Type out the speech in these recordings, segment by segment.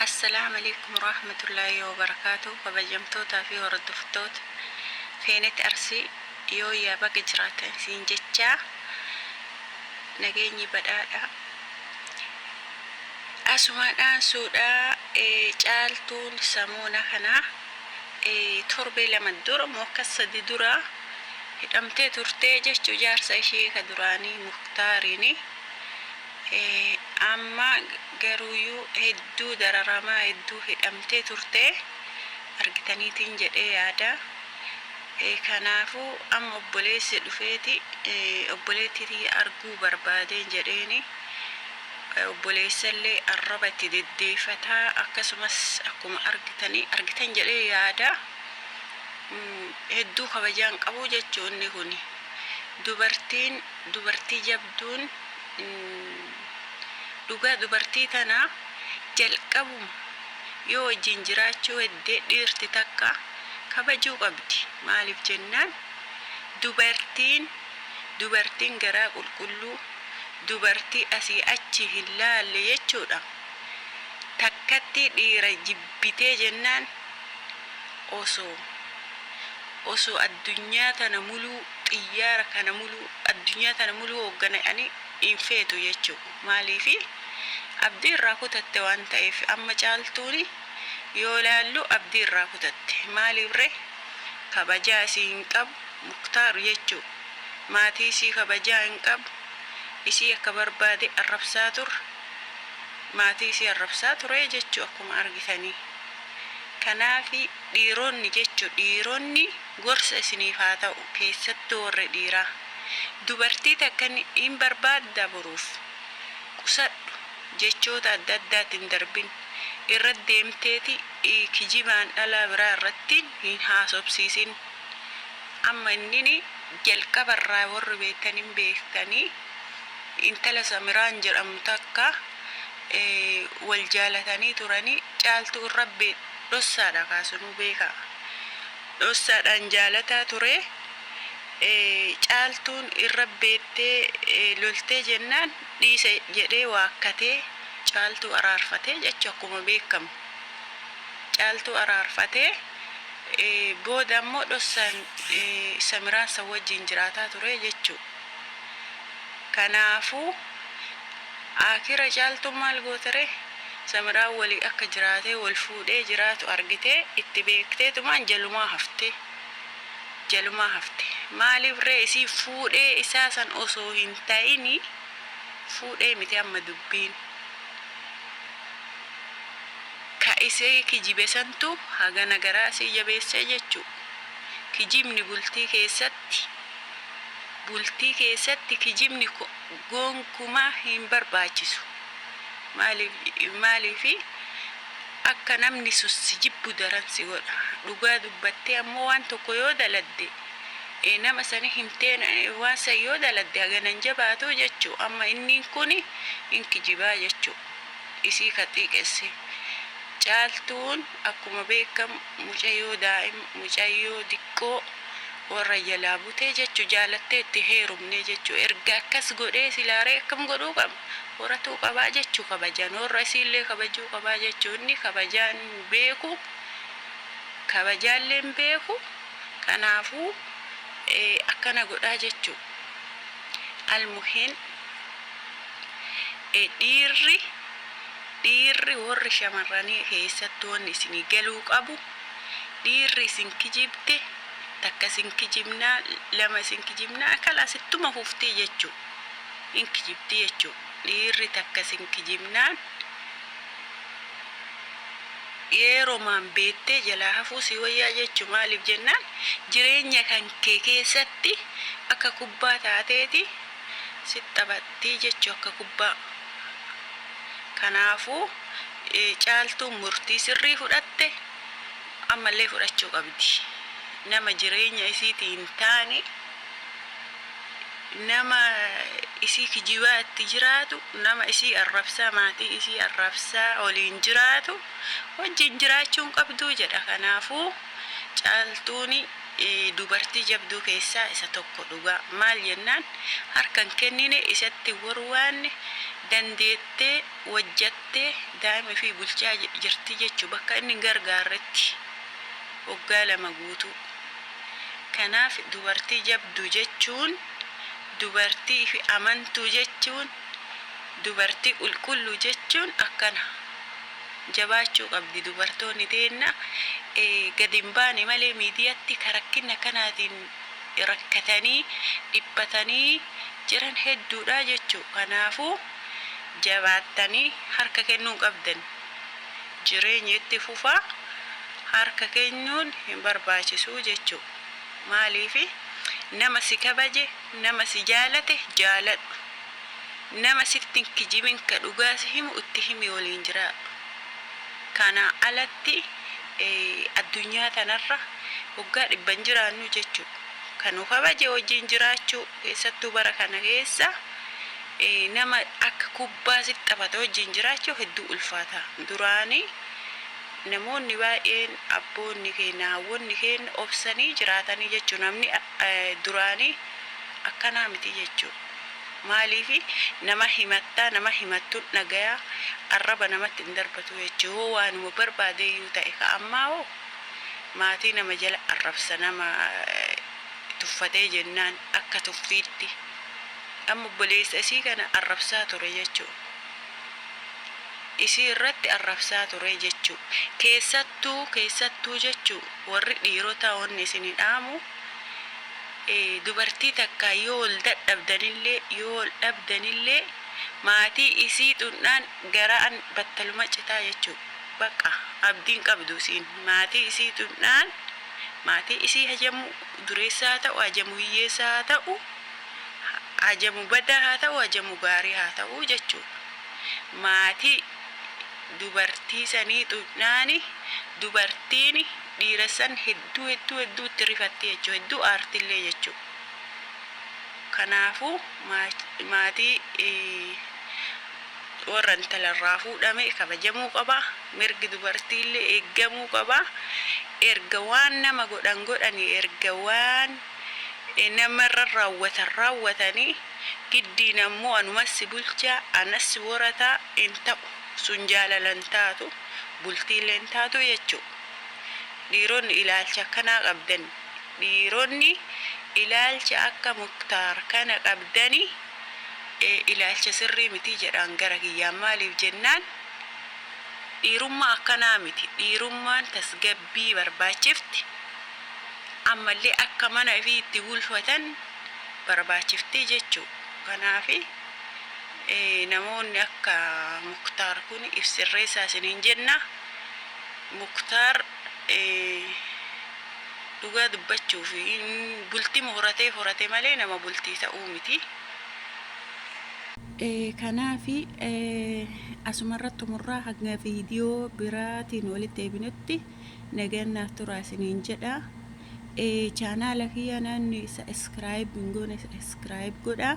Assalam Aleykum Warahamatullahi Wabarakatuh Kabajamtoota fi Hordoftoota Feenet Arsii Yooyyaa Baga Jiraatan Siin Jechaa Nageenyi Badhaadha Asumaan Dhaansuudha Caaltuun Samoona Kana Torbee Lama Dura Mookka Sadi Dura Hidhamtee Turtee Jechuu Jaarsa Ishee Ka Duraanii Muktaariini Amma garuuyuu hedduu dararamaa hedduu hidhamtee turtee argitaniitiin jedhee yaada. Kanaafuu amma obboleessi dhufeeti obboleettii tiyya arguu barbaadeen jedheeni obboleessallee arraba itti deddeefataa akkasumas akkuma argitanii argitan jedhee yaada. Hedduu kabajaan qabuu jechuu inni kuni dubartiin dubartii jabduun Dhugaa dubartii tana jalqabum yoo wajjin jiraachuu hedde dhiirti takka kabajuu qabdi maalif jennaan dubartiin dubartiin garaa qulqulluu dubartii asii achi hin laalle jechuudha takkattii dhiira jibbitee jennaan osoo Osoo addunyaa tana muluu xiyyaara kana muluu addunyaa tana muluu hooggane ani hin feetu jechuu ko maaliifi abdii irraa kutatte waan ta'eef amma caaltuuni yoo laallu abdii irraa kutatte maaliif ree kabajaa isii hin qabu muktaar jechuu maatii isii kabajaa hin qabu isii akka barbaade arrabsaa tur maatii isii arrabsaa turee jechuu akkuma argitanii kanaafi Dhiiroonni jechu dhiiroonni gorsa isiniif haa ta'u keessattu warri dhiiraa dubartii takka hin barbaadda boruuf qusadhu jechoota adda addaatti hin darbin irra deemteeti kijibaan dhalaa biraa irratti hin haasobsiisin amma innini jalqaba irraa warri beektan hin beektani intala samiraan jedhamtu takka wal jaalatanii turani caaltuu irra Dhossaadha kaa sunuu beekaa. Dhossaadhaan jaalataa turee caaltuun irra beettee loltee jennaan dhiisa jedhee waakkatee caaltuu araarfatee jechu akkuma beekkamu caaltuu araarfatee booda ammoo dhossaan samiraan san wajjiin jiraataa turee jechuu kanaafuu aakira caaltuun maal gooteree. Samiraan waliin akka jiraatee wal fuudhee jiraatu argitee itti beekteetumaan jalumaa hafte. Jalumaa hafte. Maaliif ree isiin fuudhee isaa san osoo hin ta'ini fuudhee miti amma dubbiin. Ka isii kijibe santu hagana garaa isii jabeessee jechuu. Kijibni bultii keessatti bultii keessatti kijibni ko. Gonkumaa hin barbaachisu. Maaliif akka namni sun si jibbu daran si godha. Dhugaa dubbattee ammoo waan tokko yoo daladde nama sani himteen waan san yoo daladde hagana hin jabaatu jechuu amma inniin kun hin kijibaa jechuu isii ka xiiqesse. Caaltuun akkuma beekamu mucayyoo daa'ima mucayyoo diqqoo Warra jalaa butee jechu jaalattee itti heerumnee jechu erga akkas godhee silaa ree akkam godhuu qaba horatuu qabaa jechu kabajaan warra isiillee kabajuu qabaa jechu inni kabajaan beeku kabajaalleen beeku kanaafuu akkana godhaa jechu almuhiin dhiirri dhiirri warri shamarranii keessatti wanni isinii galuu qabu Dhiirri isin kijibde takka isin kijibnaa lama isin kijibnaa kalaas ittuma fufti jechu hin kijibdi jechu dhiirri takka isin kijibnaan yeeromaan beettee jalaa hafuu sii wayyaa jechu maaliif jennaan jireenya kan kee keessatti akka kubbaa taateeti sitti taphattii jechu akka kubbaa kanaafuu Caaltuun murtii sirrii fudhatte, ammallee fudhachuu qabdi. Nama jireenya isiitii hin taane, nama isii kijibaa itti jiraatu, nama isii arrabsaa, maatii isii arrabsaa waliin jiraatu wajjin jiraachuu hin qabdu jedha. Kanaafuu Caaltuun dubartii jabduu keessaa isa tokko dhugaa. Maal jennaan harka hin kennine, isatti hin warwaanne, dandeettee, wojjatte daa'ima ifii bulchaa jirti jechu bakka inni hin gargaarretti woggaa lama guutuu. Kanaaf dubartii jabdu jechuun dubartii ifi amantuu jechuun dubartii qulqullu jechuun akkana. Jabaachuu qabdi dubartoonni teenna gadi hin baane malee miidiyatti ka rakkinna kanaatiin rakkatanii dhiphatanii jiran hedduudha jechu. Kanaafuu. Jabaattanii harka kennuu qabdan. Jireenya itti fufa harka kennuun hin barbaachisu jechuu. Maaliif nama si kabaje, nama si jaalate jaaladhu. Nama sitti hin kijibin ka dhugaa si himu itti himi waliin jiraadhu. Kanaa alatti addunyaa tanarra waggaa dhibba hin jiraannu jechuu. Ka nu kabaje wajjiin jiraachuu. Keessattuu bara kana keessa nama akka kubbaa sitti taphatu wajjin jiraachuuf hedduu ulfaata. Duraan namoonni baay'een abboonni keenna, haawwonni keenna obsanii jiraatanii jechuun namni duraanii akkanaa miti jechuudha. Maaliif nama himattaa nama himattuun dhagaya arraba namatti hin darbatu jechuudha. Yoo waanuma barbaadeyyuu ta'e ka ammaa hoo maatii nama jala arrabsa nama. tuffatee jennaan akka tuffiitti amma obboleessa isii kana arrabsaa ture jechuu isii irratti arrabsaa ture jechuu keessattuu keessattuu jechuu warri dhiirotaa wanni isini dhaamu dubartii takkaa yoo wal dadhabdanillee yoo wal dhabdanillee maatii isii xundhaan garaan battaluma citaa jechuu baqqa abdiin qabdu isiin maatii isii xundhaan Maatii isii hajamu dureessa haa ta'u, hajamu hiyyeessa haa ta'u, hajamu badaa haa ta'u, hajamu gaarii haa ta'u jechuudha. Maatii dubartii sanii xuqnaani dubartiini dhiira san hedduu hedduu hedduu itti rifatti jechuu hedduu aartillee jechuu. Kanaafuu maatii warra intala irraa fuudhame kabajamuu qaba, mirgi dubartii illee eeggamuu qaba. Erga waan nama godhan godhanii, erga waan nama irra raawwatan raawwatanii, giddiin ammoo anuman si bulchaa, anas si horataa hin ta'u. Sun jaalala hin taatu, bultii illee hin taatu jechuu. Dhiironni ilaalcha akkanaa qabdan, dhiironni ilaalcha akka Muktaar kana qabdanii, ilaalcha sirrii miti jedhaan gara kiyyaan maaliif jennaan dhiirummaa akkanaa miti dhiirummaan tasgabbii barbaachifti ammallee akka mana ifii itti bulfatan barbaachifti jechuu kanaaf namoonni akka muktaar kun if sirreessaa isiniin jenna muktaar Dhugaa dubbachuuf bultima horatee horate malee nama bultii ta'uu miti. Kanaaf asumarra xumurraa hanga viidiyoo biraatiin walitti deebinutti nagaan naaf turaa isiniin jedha. Chaanaala kiyya naanni isa iskiraayib hin goone iskiraayib godha.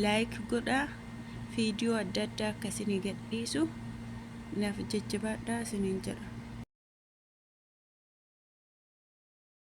Laayik godha. Viidiyoo adda addaa akka isinii gadhiisu. Naaf jajjabaadhaa isiniin jedha.